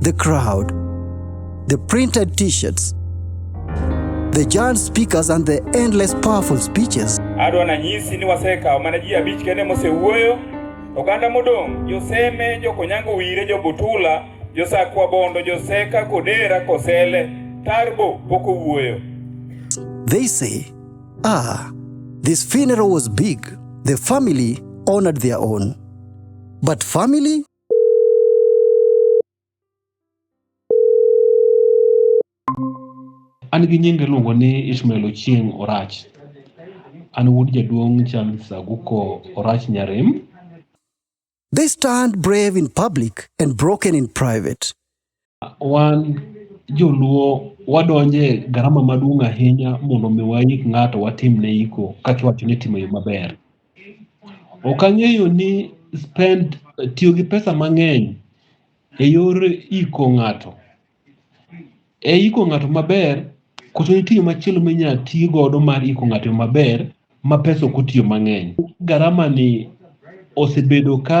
the crowd, the printed t shirts, the giant speakers, and the endless powerful speeches. adwa na nyisi ni wasekawo mana ji abich kende mosewuoyo oganda modong' joseme jokonyango wire jobutula josakwa bondo joseka kodera kosele tarbo pok owuoyo They say, ah, this funeral was big. The family honored their own. But family? An gi nyinga iluongo ni Ishmael Ochieng' Orach. An wuod jaduong' Charles Aguko Orach Nyarem. They stand brave in public and broken in private. Wan joluo wadonjo e garama maduong' ahinya mondo mi waik ng'ato watimne iko kaka iwacho ni timo yo maber. Ok ang'eyo ni spend tiyo gi pesa mang'eny e yor iko ng'ato. E iko ng'ato maber, koso nitie yo machielo minyalo ti godo mar iko ng'ato yo maber ma pesa ok otiyo mang'eny. Garama ni osebedo ka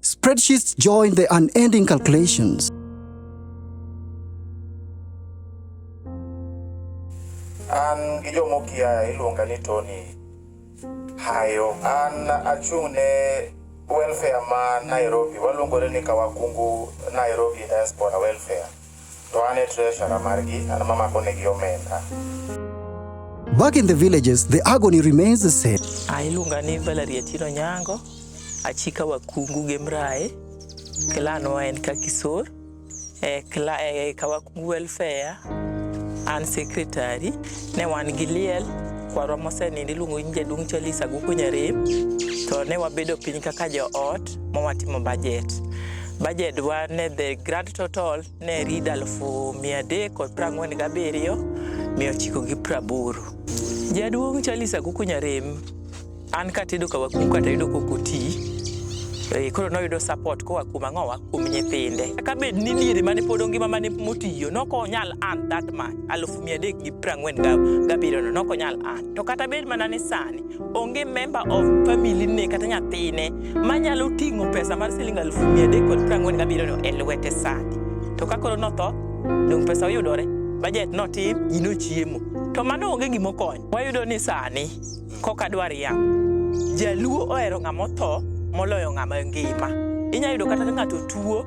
Spreadsheets join the unending calculations. An gi jomokia iluonga ni Tony Hayo. An achung' ne welfare ma Nairobi, waluongore ni Kawakungu Nairobi Diaspora Welfare. To an e treasurer margi, an ema amakonegi omenda. Back in the villages, the agony remains the same. Ailuonga ni Valerie Atino Nyango, achika wakungu gi mrae, clan wa en Kakisor, e, kla, e, kawakungu welfare, an secretary, ne wan gi liel, kwarwa mosenindo iluongo ni jaduong' Charles Aguku Nyarem, to ne wabedo piny kaka joot, ma watimo budget. Budget wa ne the grand total ne read alufu mia adek kod prang'wen gabiriyo mia ochiko gi praboro. Jaduong' Charles Akuku Nyarem, an katedo ka wakuku kata yudo kokoti Eh, koro noyudo support koa kuom ang'owa kuom nyithinde ka bed ni diere mane pod ongima mane motiyo nok onyal an that much alufu mia adek gi prang'wen gabiriyono nok onyal an to kata bed mana ni sani Onge member of family ne kata nyathine manyalo ting'o pesa mar siling aluf mia adek kod piero ang'wen gabiriyo no e lwete sani. To ka koro notho, dong' pesa oyudore, bajet notim, ji nochiemo. To mano onge gima okonyo. Wayudo ni sani koka dwar ya. Jaluo ohero ng'ama otho moloyo ng'ama ngima. Inyalo yudo kata ka ng'ato tuo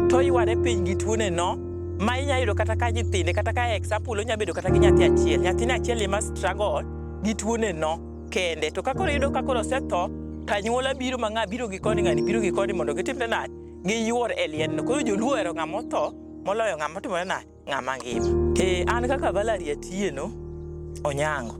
to yware piny gi tuone no ma inyalo yudo kata ka nyithinde kata ka example onya bedo kata gi nyathi achiel nyathine achiel ema struggle gi tuone no kende to kakoro iyudo kakoro osetho to anyuola biro ma ng'a biro gi koni ng'ani biro gi koni mondo gitimne nade giyuor e liendno koro joluo ohero ng'ama otho moloyo ng'ama otimore nade ng'ama ngima e an kaka Valerie Atieno Onyango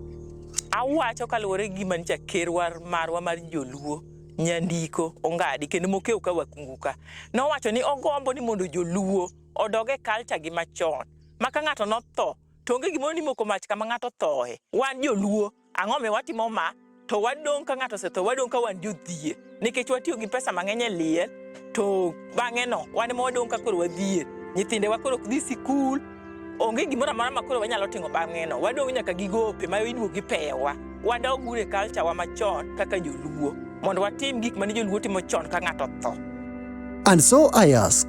awacho kaluwore gi gima nyicha kerwa marwa mar joluo nyandiko ongadi kendo mokew ka wakunguka nowacho ni ogombo ni mondo joluo odoge kalcha gi machon ma ka ng'ato notho to onge gimoro ni moko mach kama ng'ato thoe. Wan joluo, ang'o mi watimo ma? To wadong' ka ng'ato osetho, wadong' ka wan jodhier. Nikech watiyo gi pesa mang'eny e liel, to bang'e no, wan ema wadong' ka koro wadhier. Nyithindewa koro ok dhi sikul, onge gimoro amora ma koro wanyalo timo bang'e no. Wadong' nyaka gi gope ma iduogo gi pewa. Wadog ure culture wa machon kaka joluo, mondo watim gik mane joluo timo chon ka ng'ato otho. And so I ask,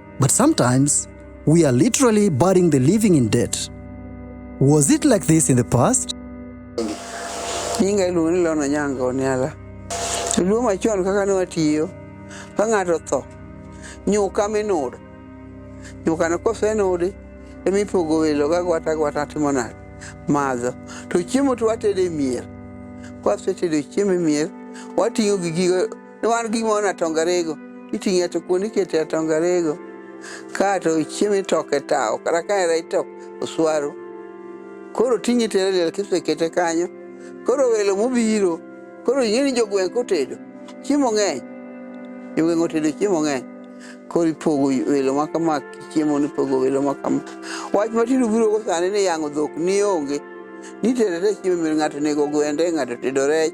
But sometimes we are literally burying the living in debt. Was it like this in the past? Nyinga iluongo ni Lona Nyanga Oniala. Luo machon kaka ne watiyo ka ng'ato tho nyuka minudi nyukano kosenudi emipogo welo ga gwata gwata timo nade madho to chiemo to watede miel kwasetedo chiemo e miel wating'o gi gigo ni wan gi gimoro natongarego iting'e to kuonde ikete atongarego ka to ichiemo itoke tawo kata ka era itok oswaru koro ting'e tere liel kisekete kanyo koro welo mobiro koro ing'e ni jogweng' kotedo chiemo ng'eny jogweng' otedo chiemo ng'eny koro ipogo welo ma kama chiemo ni ipogo welo ma kama wach matindo biro go sani ni yang'o dhok ni onge nitere te chiemo mir ng'ato nego gwende ng'ato tedo rech